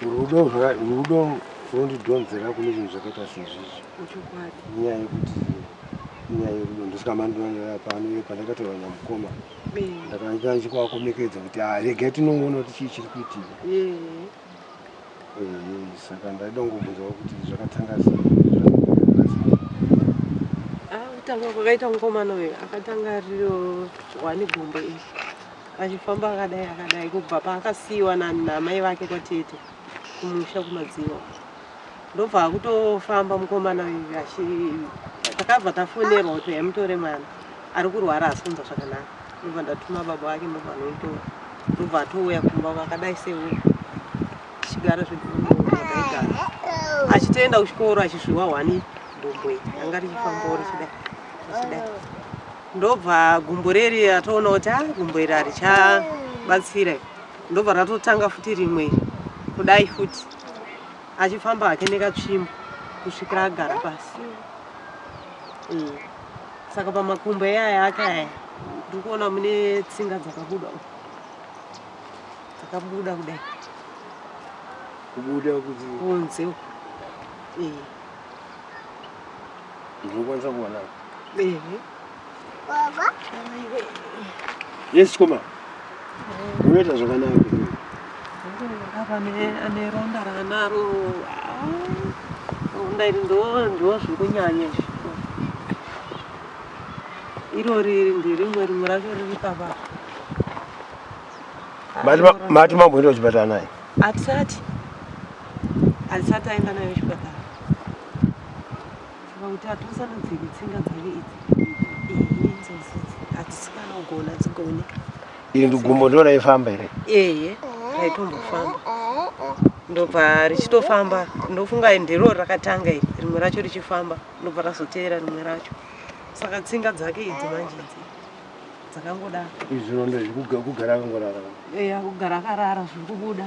rudo runondidhonzera kune zvinhu zvakaita sezvizvi nyaya yekuti nyaya yerudo ndosaka mandinonoa pano iye pandakatorwa nyamukoma ndakanzwa chikuvakomekedza kuti ah, regai tinongoona kuti chii chiri kuitika saka ndaida kungobvunzawo kuti zvakatanga kutanga kwakaita mukomana uyu akatanga riro wani gumbo iri achifamba akadai akadai kubva paakasiyiwa nanamai vake kwatete kumusha kumadziva ndobva akutofamba mukomana uyu achi takabva tafonerwa kuti uya mutore mwana ari kurwara asi kunzwa zvakanaka ndobva ndatuma baba vake ndobva anoitora ndobva atouya kumba vakadai sewe tichigara zvekuaigara achitoenda kuchikoro achizviwa hwani gumbo iri anga richifambawo richidai richidai ndobva gumbo reri atoona kuti a ah, gumbo iri harichabatsira ndobva ratotanga futi rimwe kudai futi achifamba hake nekatsvimbo kusvikira agara pasi mm. saka pamakumbo eyaya ake aya ndiri kuona mune tsinga dzakabuda dzakabuda kudai kubuda kunze ndinokwanisa kuona ehe Yes, chikoma. Unoita zvakanaka. Ane ronda ranaro. Ronda iri ndo zvikunyanya izvi. Iro riri ndirimwe rimwe racho riri papa. Mati mamboenda kuchipatara naye? Atisati. Atisati aenda naye kuchipatara. Saka kuti atosarudziri tsinga dzake idzi. Atisikana kugona dzigone. Iri ndugumbo ndiona ifamba here? Eye, raitombofamba. Ndobva richitofamba, ndofunga ndiro rakatanga iri, rimwe racho richifamba, ndobva razoteera rimwe racho. Saka tsinga dzake idzi manje idzi dzakangoda. Izvi zvirondo izvi kugara akangorara. Eya, kugara akarara zviri kubuda.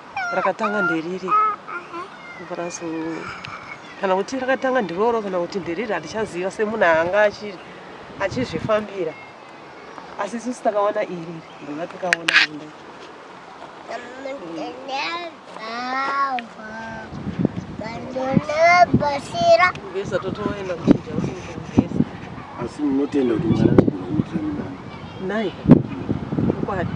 rakatanga nderiri brazo kana kuti rakatanga ndiroro kana kuti nderiri handichaziva semunhu anga achizvifambira asi isusu takaona iri ndova takaona rinda vesa totoenda kuchinja asi munotenda kuti mwari nai ukwadi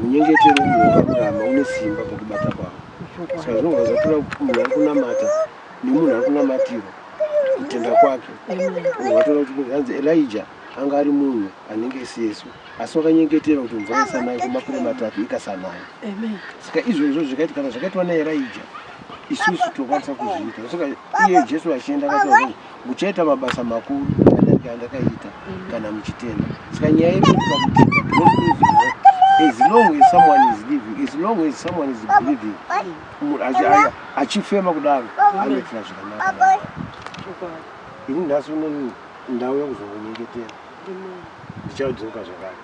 munyengetero uyo wakuramba une simba pakubata kwavo saka zvinobva zvatora munhu ari kunamata nemunhu ari kunamatirwa kutenda kwake watoona kuti hanzi elija anga ari munhu anenge sesu asi wakanyengetera kuti mvura isanaya kwemakore matatu ikasanaya saka izvozvo zvikaiti kana zvakaitwa naeraija isusu tokwanisa kuzviita saka iye jesu achienda akataura muchaita mabasa makuru adarika andakaita kana muchitenda saka nyaya yekuakutika as long as someone is living as long as someone is breathing achifema kudaro anoitira zvakanaka ini nhasi uno ndauya kuzongonyengetera ndichadzoka zvakare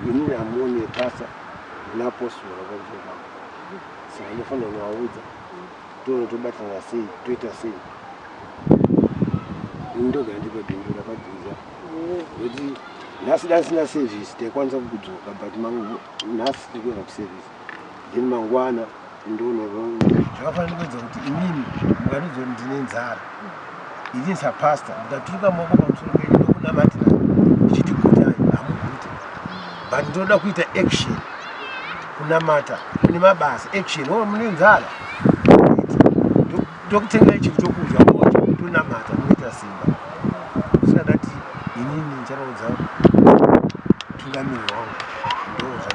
ini amoni epasa napostora vakudzoka sa anofanira kuvaudza toona tobatana sei toita sei ini ndoga ndipe bindu rakadzinza kuti nhasi dasina service taikwanisa kukudzoka but nhasi tiri kuenda kuservice then mangwana ndonoronya zvakafanira kuedza kuti inini mukatidza kuti ndine nzara inini sapasta ndikaturuka maoko pamusoro penyu ndokunamatira ndichiti gutai hamugute but ndinoda kuita action kunamata kune mabasa action o oh, mune nzara ndokutengai chinhu chokudya moto tonamata munoita simba sina ndati inini ndicharaudza tungamiriro wangu